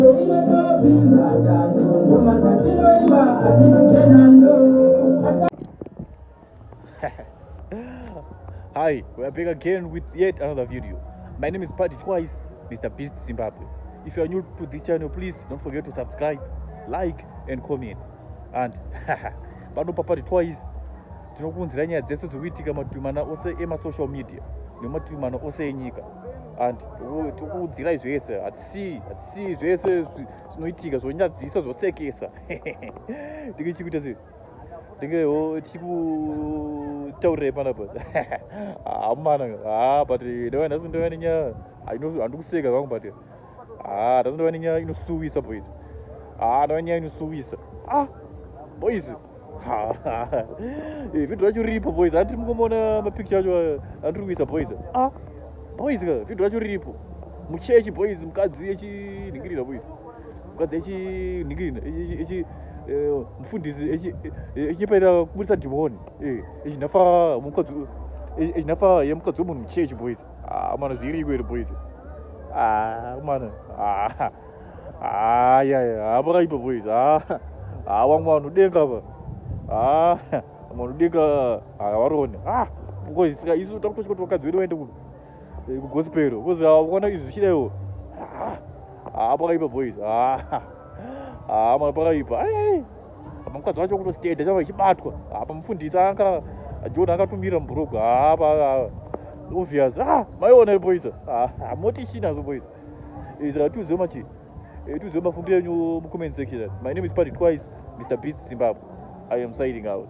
Hi, we are back again with yet another video. My name is Paddy Twice, Mr. Beast Zimbabwe. If you are new to this channel, please don't forget to subscribe, like and comment. And pano papati twice tinokuunzira nyaya dzese dzikuitika mativi mana ose emasocial media nemativi mana ose enyika and tikuudzirai zvese hatisii hatisii zvese zvinoitika zvonyadzisa zvosekesa ndinge chikuita sei ndinge ho tichikutaurirai panapa hamana ha but ndava nhasi ndava nenyaya handikuseka zvangu but ha nhasi ndava nenyaya inosuwisa boys ha ndava nenyaya inosuwisa ah boys vhidho racho riripo boys andiri mungomona mapicture acho eh, andiri kuisa boys ah, boys ka vhidho racho riripo muchechi boys mukadzi yechinhingirira boys mukadzi yechinhingirira eh, mufundisi echinyepaira kuburitsa dhimoni eh, echinhafa mukadzi echinhafa yemukadzi wemunhu muchechi boys ah, mana zviriko here boys ah, mana Ah, yeah, yeah. Ah, pakaipa boys. Ah, ah, wangu vanhu denga pa. Ah, vanhu denga ah, varone. Ah, because sika isu takutochi kuti vakadzi vedu vaende ku eh, ku gospel. Because ah, vakaona izvi zvichidaiwo. Ah, ah, pakaipa boys. Ah, ah, mwana pakaipa. Ai, ai. Apa mukadzi wacho kutositenda chava ichibatwa. Apa mufundisi anga John akatumira mubhurugu. Ah, pa ah, obvious. Ah, maiona boys. Ah, ah, moti china zo boys. eh, saka tiudzeo machi eh, tiudzeo mafungiro enyu mucomment section my name is party twice mr beast zimbabwe i am signing out